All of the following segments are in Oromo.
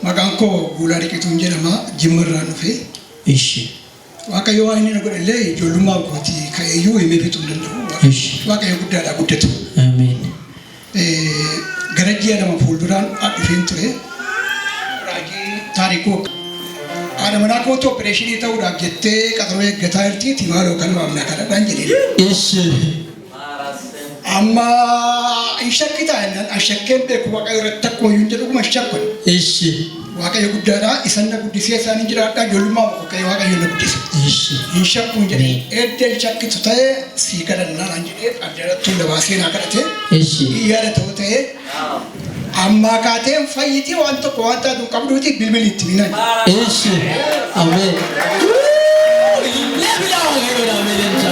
Maqaan koo Guulaa Diqituun jedhama. Jimma irraan dhufe. Ishi. Waaqayyo waan inni na godhe illee ijoollummaa kooti ka'eeyyuu himee fixuu hin danda'u. Ishi. Waaqayyo guddaadha guddatu. Ameen. Gara ji'a lama fuulduraan dhufeen ture. Raajii Taarikuu haadha manaa kootu opereeshinii ta'uudhaaf jettee qaxaroo eeggataa jirtiiti maaloo kan waamnaa kadhadhaan jedhee. Ishi. Amma hin shakkitaa jennaan an shakkeen beeku waaqayyo irratti akkuma hin jedhu dhuguma hin shakkun. Ishi. Waaqayyo guddaadha. Isan na guddisee isaanin jiraadha. Ijoollummaa koo ka'ee Waaqayyo na guddise. Eshi. Hin shakkuun jedhee edda hin shakkitu ta'e sii kadhannaa naan jedhee addarattuu na baasee naa kadhate. Eshi. Hin yaadatoo ta'e ammaa kaatee hin fayyiti waan tokko waan taatu hin qabduuti bilbili itti minan. Eshi. Amen. Lebila lebila melencha.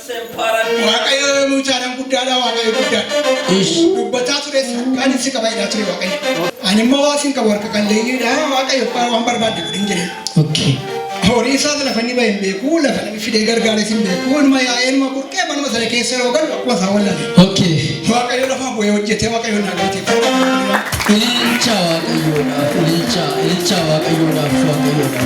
Waaqayyo yommuu caalaan guddaadha Waaqayyo guddaadha. Ish. Dubbataa tures kan ibsi qaba jedhaa ture Waaqayyo. Ani immoo waan isin qabu harka qalleeyyiidha Waaqayyo waan barbaadde godhin jedhe. Okay. Horii isaas lafa inni bahe hin beeku lafa inni fidee gargaare isin beeku inuma yaa'ee inuma burqee manuma sana keessa yeroo galu akkuma isaa wallale. Okay. Waaqayyo lafa bu'ee hojjetee Waaqayyo naa galateeffata. Ililcha waaqayyoodhaaf ililcha ililcha waaqayyoodhaaf waaqayyoodhaaf.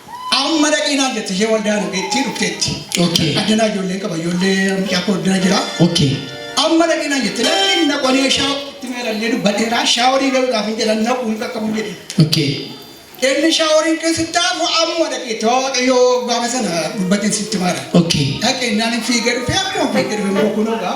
Amma dhaqii naan jette ishee waldaan ogeettii dhufteetti. Okay. Addanaa ijoollee qaba ijoollee mucaa koo addana jira. Okay. Amma dhaqii naan jette lakkiin naqonee shaa itti meerallee dubbateera shaaworii galuudhaaf hin jedhan naquu hin qaqqabu jedhe. Okay. Inni shaaworiin keessatti taafu amma dhaqee waaqayyoo gaafa sana dubbateen sitti maara. Okay. Dhaqee naan hin fiigee dhufee akkuma fiigee dhufe immoo kunoo gaa.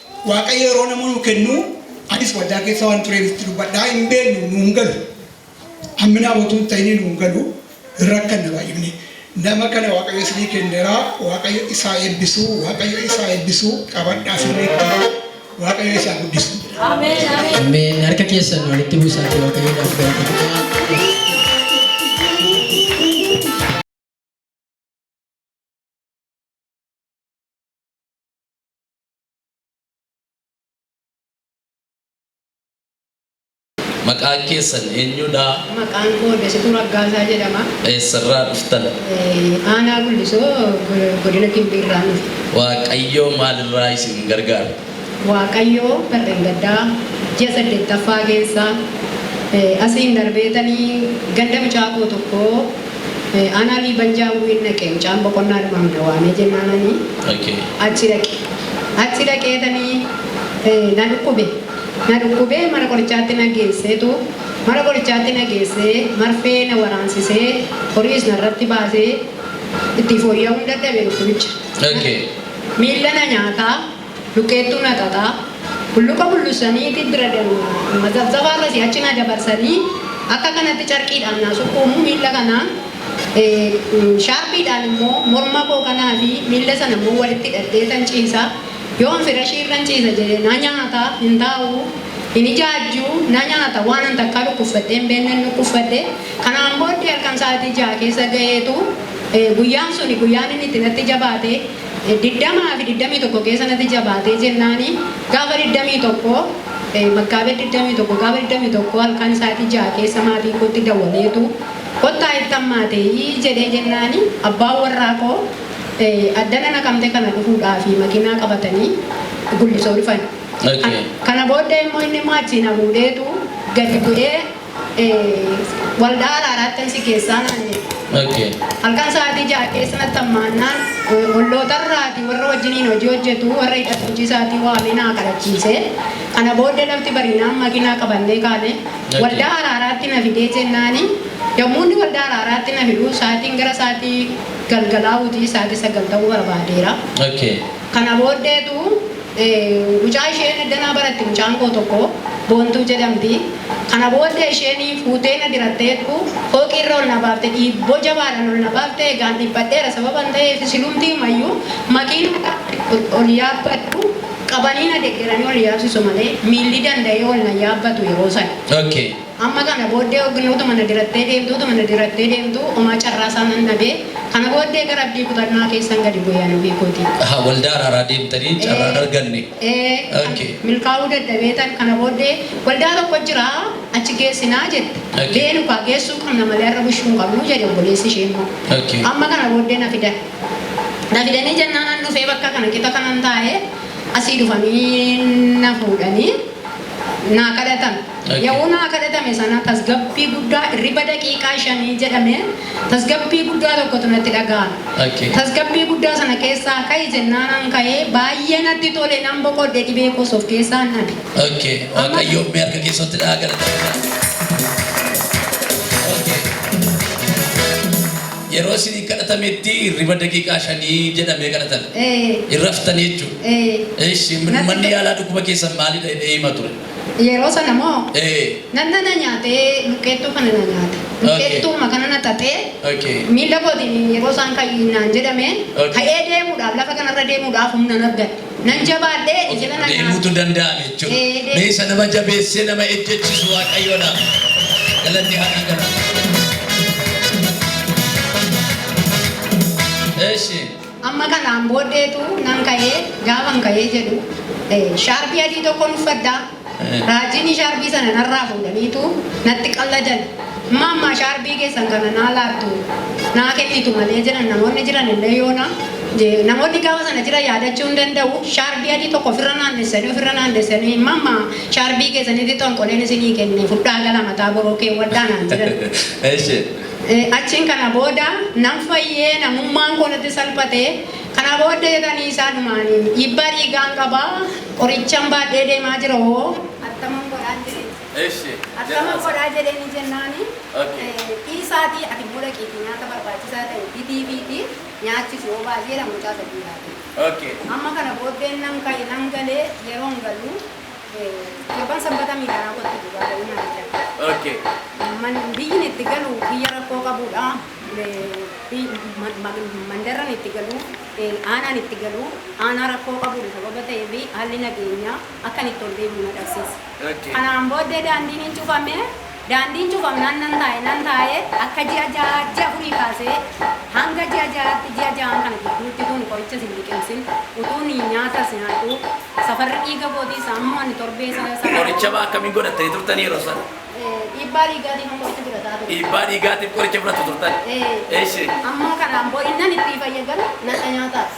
Waaqayyo yeroo nama nuu kennu anis waldaa keessa waan tureef itti dubbadhaa hin beeknu nu hin galu. Hamminaa utuu hin ta'in nu hin galu rakkanna baay'ifne. Nama kana Waaqayyo isinii kennera Waaqayyo isaa eebbisu Waaqayyo isaa eebbisu qabadhaa sirriitti Waaqayyo isaa guddisu. Ameen. Harka keessan walitti buusaa fi waaqayyoodhaaf galateeffadhaa. Maqaan keessan eenyudha? Maqaan koo Dasituu Raggaasaa jedhama. Eessarraa dhuftan? Eh, Aanaa Gullisoo go- godina Gimbii irraa dhufe. Waaqayyoo maalirraa isin gargaara? Waaqayyoo barreen gaddaa ji'a saddeettaffaa keessa eh, asiin darbeetanii ganda mucaa koo tokkoo Aanaa Liiban jaamu hin dhaqe mucaan boqonnaa dhumaaf na waamee jennaanani achi dhaqe achi dhaqeetani na dhukkube na dhukkubee mana qorichaatti na geesseetu mana qorichaatti na geessee marfee na waraansisee horiis narratti baasee itti fooyya'uun dadhabe dhukkubicha miilla na nyaataa Luqqeettuu na xaxaa, hulluqa hullussanii itit bira demu, na zabzabaa akkasii achi na dabarsanii akka kanatti carqiidhaan naa sukkuumu miilla kana shaarpiidhaan immoo morma koo kanaa fi miilla sana immoo walitti hidhadheetan ciisa. Yoon firashii irran ciisa jedhe na nyaata, hin taa'u, hin ijaajju, na nyaata. Waanan takkaa dhukkuffadhee hin beeknen dhukkuffadhe. Kanaan booddee halkan sa'aatii 6:00 keessa gaheetu guyyaan suni guyyaan inni itti natti jabaate. 20fi 21 keesa nati jabaate jennaani gaafa 21 Makkaabed 21 gaafa 21 halkan saati 6 keesa maatii kootti dawaleetu kottaa itti hammaateeyi jedhee jennaani abbaan warraa koo addana Naqamte kana dhufuudhaafi makinaa qabatani Gullisoo dhufani kana booddee immoo inni immoo achii na fuudheetu gadi bu'ee Waldaa Araaraattan si geessaa naan jedhe. Halkan sa'aatii ja'a keessa natti hammaannaan ollootarraatii warra wajjiniin hojii hojjetu warra hidhata hojii isaatii waamee naa kadhachiise. Kana booddee lafti bariinaan makiinaa qabannee kaane. Waldaa Araaraatti na fidee jennaan yommuu inni Waldaa Araaraatti na fidu sa'aatiin gara sa'aatii galgalaa'uuti sa'aatii sagal ta'uu barbaadeera. Kana booddeetu mucaa isheen eddanaa baratti mucaan koo tokko Boontuu jedhamti. Kana booddee isheen fuutee na diratteettu fooqii irra ol na baafte dhiibboo jabaadhaan ol na baafte egaan dhiphadheera sababan ta'eef silumtiimayyuu makiinaa gaafa ol yaabbadhu qabanii na deggeranii ol yaabsisu malee miilli danda'ee ol na yaabbatu yeroo sana. Amma kana booddee Ognee utuma na dirattee deemtuu utuma na dirattee deemtuu omaa carraa isaa nan dhabe. Kana booddee gara abdii kutannaa keessan gadi bu'e ani ofii kootii. Ahaa waldaa araaraa deemtanii carraa hin arganne. Ee ok. milkaa'uu dadhabeetan kana booddee waldaa tokko jira achi geessinaa jette. Ok. Beenu kaa geessuu qabna malee har'a bushuu hin qabnu jedhe obboleessi ishee immoo. Ok. Amma kana booddee na fidan. Na fidanii jennaan an dhufee bakka kana qixa kanan taa'e asii dhufanii na fuudhanii naa kadhatan. Yehuun haa kadhatame sana tasgabbii guddaa irriba daqiiqaa shanii jedhame tasgabbii guddaa tokkotu natti dhaga'ame. Tasgabbii guddaa sana keessaa ka'i jennaan an ka'e baay'ee natti tole nan boqodhe dhibee koos of keessaan dhabe. Ammas. Waaqayyoof mee harka keessan itti dha'aa galateeffadhaa. Yeroo isinii kadhatametti hirriba daqiiqaa shanii jedhamee kadhatame. Ee. Hin raftanii jechuudha. Ee. Eeshi, Natti- manni yaalaa dhukkuba keessan maalidha jedhee hima ture. Yeroo sana moo Ee. nanna na nyaatee luqqeettuu kana na nyaate. Okay. Luqqeettuuma kana na xaxee Okay. miila kootiin yeroo isaan ka'i naan jedhame Okay. ka'ee deemuudhaaf lafa kanarra deemuudhaaf humna hin argadhe. Nan jabaadhe ija na na nyaate. Deemuutu danda'ame Ee, jechuudha. deemu. Mee isa nama jabeessee nama ejjechiisu Waaqayyoodhaaf. Galanni haa dhagalamu. Eshi. Amma kanaan booddeetu nan ka'e, gaafan ka'ee jedhu, shaarbii adii tokkon uffadha, raajiinii shaarbii sana narraa fuudhaniitu natti qalladan. Amma ammaa shaarbii keessan kana naa laattu, naa kennitu malee jedhan namoonni jiran illee yoona. Namoonni gaafa sana jiran yaadachuu hin danda'u, shaarbii adii tokko ofirra naannessanii, ofirra naannessanii, amma ammaa shaarbii keessanitti xonqoleen isinii kenne, fudhaa gala mataa boroo keewwadhaa naan jedhan. Eshi. Achiin kana booda nan fayyee, namummaan koo natti salphate. Kana booddee jedhanii isaa dhumaanii, Dhiibbaa dhiigaan qaba, qorichan baadhee deemaa jira hoo attaman godhaan jedheen. Eshi. Attaman godhaa jedheenii jennaani, dhiisaatii ati immoo dhaqiitii nyaata barbaachisaa ta'e bitiifiitii nyaachisi hoo baasii jedhan mucaa sadii baatee. Amma kana booddeen nan ka'e, nan galee yeroon galu, Torban sanbata miidhaa raawwattu dhugaa baay'inaan jira. Okay. Man- Biyyin itti galu biyya rakkoo qabudha. Eh, bi- ma- ma- Mandarran itti galu, eh, aanaan itti galu, aanaa rakkoo qabudha sababa ta'eef haalli nageenyaa akkan itti ol deebi'u na dhabsiisa. Okay. Kanaan booddee daandiin hin cufame. Daandiin cufamnaan nan taa'e, nan taa'e, akka ji'a ja'aa, ji'a afurii kaasee hanga ji'a ja'aatti, ji'a ja'aan kana gidduutti utuun qorichas hin liqimsin, utuun nyaatas nyaadhuu, safarri dhiiga kootiis hamma ani torbee sa, safaruu Qoricha maa akkamiin godhattanii turtanii yeroo sana? Ee, dhiibbaa dhiigaatiifan qoricha fudhataa ture. Dhiibbaa dhiigaatiif qoricha fudhattu turtan? Ee. Eshi. Amma kanaan boo innan ittii fayyadamu nadha nyaataas.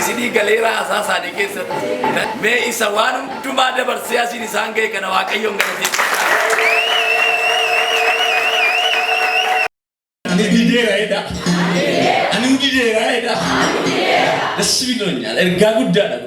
isinii galeera haasaa isaanii keessatti mee isa waan hundumaa dabarsee asiin isaan ga'e kana waaqayyoon galateeffadha. Ani ergaa guddaadha.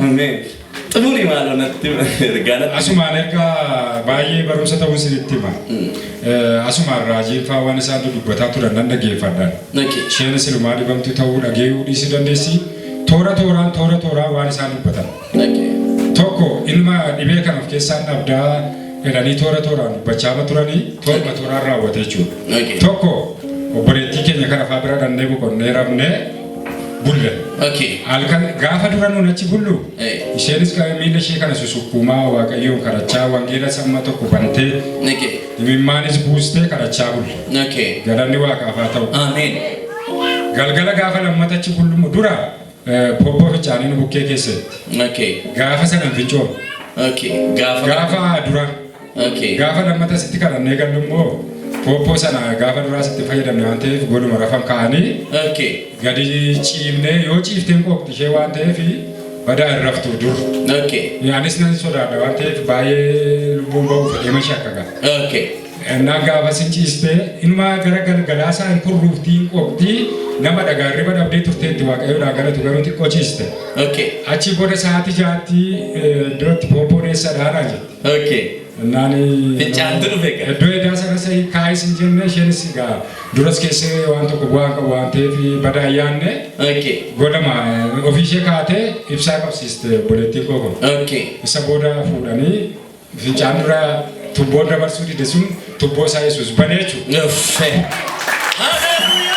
Ameen. Xumuri maaloo natti ergaa natti. Asumaan erga baay'ee barumsa ta'uu isinitti hima. Eh, Asumaan raajiin faa waan isaan dudubbataa turan nan dhaggeeffadha. Naqi. Isheen silumaa dhibamtu ta'uu dhageeyuu dhiisuu dandeessi. Toora tooraan toora tooraan waan isaan dubbatan. Naqi. Tokko ilma dhibee kan of keessaa dhabdaa jedhanii toora tooraan dubbachaama turanii tooruma tooraan raawwate jechuudha. Naqi. Tokko obboleettii keenya kana faa bira dhannee boqonnee rafnee bulla. Okay. Halkan gaafa dura nuun achi bullu Eh. isheenis ka- miila ishee kana susukkuumaa waaqayyoon kadhachaa wangeela samma tokko bantee Okay. imimmaanis buustee kadhachaa bulle. Okay. Galanni waaqaaf haa ta'u. Amen. Galgala gaafa lammata achi bullumu dura eh, poppoo fincaanii nu bukkee keessatti. Okay. Gaafa sana hin fincoofne. Okay. Gaafa. Gaafa dura Okay. Gaafa lammata sitti kadhannee gallu immoo pooppoo sana gaafa duraa sitti fayyadamne waan ta'eef goduma rafan kaa'anii Okay. gadi ciibnee yoo ciifteen qooqxi ishee waan ta'eef badaa hin raftu dur. Okay. Anis nan sodaadha waan ta'eef baay'ee lubbuun ba'u fedhee mashi akka ga'a. Okay. Innaan gaafa sin ciistee ilmaa gara galgalaa isaa hin kurruuftii hin qooqxii nama dhagaa hirriba dhabdee turteetti waaqayyoodhaa galatu garuu xiqqoo ciiste. Okay. Achi booda sa'aatii jaatti eh, iddootti pooppoon eessa dhaanaa jirti. Okay. Naani Fincaantu dhufe egaa. Iddoo edaa sana isa kaa'ee sin jenne isheenis egaa duras keessee waan tokko bu'aa hin qabu waan ta'eef badaa hin yaadne Okay. godhama ofii ishee kaatee ibsaa qabsiiste obboleettiin koo kun. Okay. Isa booda fuudhanii fincaan dura tubboo dabarsuu dide sun tubboo isaa Yesuus banee jechuudha. Uffe. Hallelujah.